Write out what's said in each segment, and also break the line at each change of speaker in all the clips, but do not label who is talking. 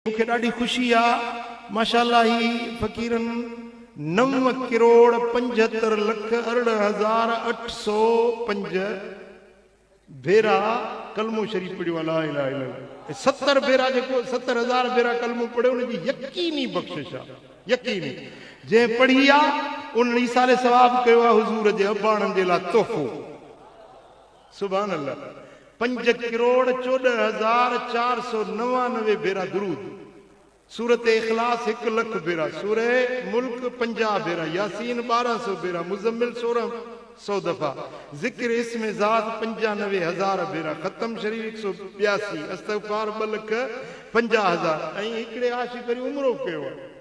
مون کي ڏاڍي خوشي آ ماشاءالله هي فقيرن نو ڪروڙ پنجهتر لک ارڙهن هزار اٺ سو پنج ڀيرا ڪلمو شريف پڙهيو آ لا اله الا الله ۽ ستر ڀيرا جيڪو ستر هزار ڀيرا ڪلمو پڙهيو ان جي يقيني بخشش آ يقيني جنهن پڙهي آ ان ايصال ثواب ڪيو آ حضور جي اباڻن جي لا تحفو. سبحان الله پنج ڪروڙ چوڏهن هزار چار سو نوانوي ڀيرا درود سورت اخلاص هڪ لک ڀيرا سوره ملڪ پنجاهه ڀيرا ياسين ٻارهن سو ڀيرا مزمل سورهن سو دفعا ذڪر اسم ذات پنجانوي هزار ڀيرا ختم شريف هڪ سو ٻياسي استغفار ٻه لک پنجاهه هزار ۽ هڪڙي عاشق وري عمرو ڪيو آهي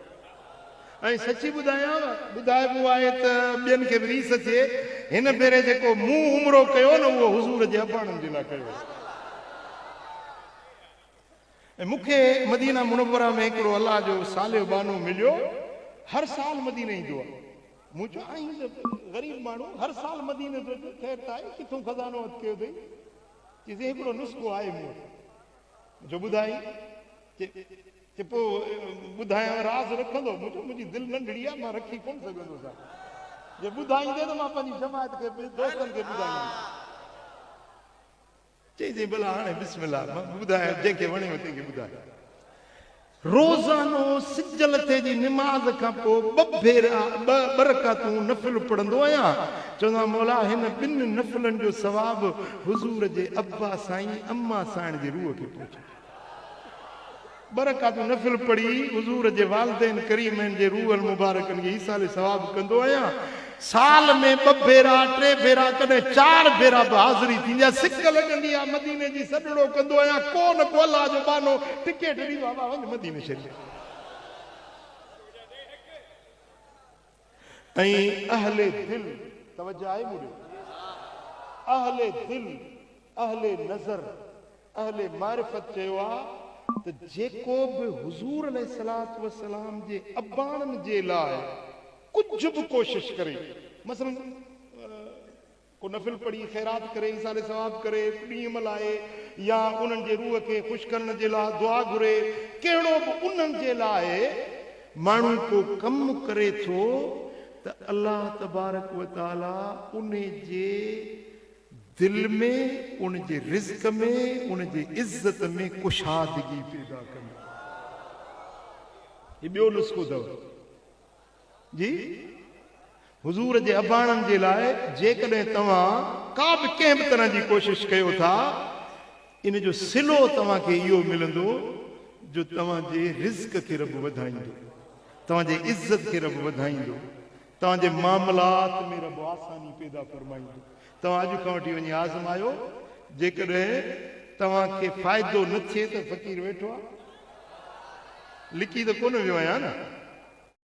۽ سچي ٻڌايانء، ٻڌائبو آهي ته ٻين کي به ريس اچي، هن ڀيري جيڪو مون عمرو ڪيو نه اهو حضور جي اباڻن جي لاء ڪيو هوسين. ۽ مون کي مدينه منوره ۾ هڪڙو الله جو صالح ٻانهو مليو، هر سال مديني ايندو آهي. مون چيو آهين ته غريب ماڻهو، هر سال مديني ٿو اچين، خير ته آهي، ڪٿون خزانو هٿ ڪيو اٿئي؟ چيسين هڪڙو نسخو آهي مون وٽ. مون چيو ٻڌائين؟ چي. ته پوء ٻڌايانء راز رکندو منهنجو منهنجي دل ننڍڙي آهي مان رکي ڪونه سگهندو سان جي ٻڌائيندي ته مان پنهنجي جماعت کي دوستن کي ٻڌائيندس. چيائين سائين ڀلا هاڻي بسم الله مان ٻڌايان جنهن کي وڻيو تنهن کي ٻڌايان روزانو سج لٿي جي نماز کان پوء ٻه ڀيرا ٻه ٻه رڪعتون نفل پڙهندو آهيان چوندو آهيان مولا هن ٻن نفلن جو ثواب حضور جي ابا سائين اما سائڻ جي روح کي پهچندو. ٻه رڪعتون نفل پڙهي حضور جي والدين ڪريمين جي روح المبارڪن کي ايصال ثواب ڪندو آهيان. سال ۾ ٻه ڀيرا، ٽي ڀيرا ڪڏهن چار ڀيرا به حاضري ٿيندي آهي. سڪ لڳندي آهي مديني جي سڏڙو ڪندو آهيان. ڪو نه ڪو الله جو ٻانهو ٽڪيٽ ڏيندو آهي وا وڃ مديني شريف. ۽ اهل دل توجه آهي مون ڏي اهل دل اهل نظر اهل معرفت چيو آ ته جيڪو به حضور عليه الصلوة والسلام جي اباڻن جي لاء ڪجهه به ڪوشش ڪري مثلا ڪو نفل پڙهي، خيرات ڪري، ايصال ثواب ڪري، ڏينهن ملهائي يا انهن جي روح کي خوش ڪرڻ جي لاء دعا گهري، ڪهڙو به انهن جي لاء ماڻهو ڪو ڪم ڪري ٿو ته الله تبارڪ وتعاليٰ ان جي دل ۾ ان جي رزق ۾ ان جي عزت ۾ ڪشادگي پيدا ڪندو آهي. هي ٻيو نسخو اٿو. جي حضور جي اباڻن جي لاء جيڪڏهن توهان ڪا به ڪنهن به طرح جي ڪوشش ڪيو ٿا ان جو صلو توهان کي اهو ملندو جو توهان جي رزق کي رب وڌائيندو توهان جي عزت کي رب وڌائيندو توهان جي معاملات ۾ رب آساني پيدا فرمائيندو توهان اڄ کان وٺي وڃي آزمايو جيڪڏهن توهان کي فائدو نه ٿئي ته فقير ويٺو آهي لڪي ته ڪونه ويو آهيان نه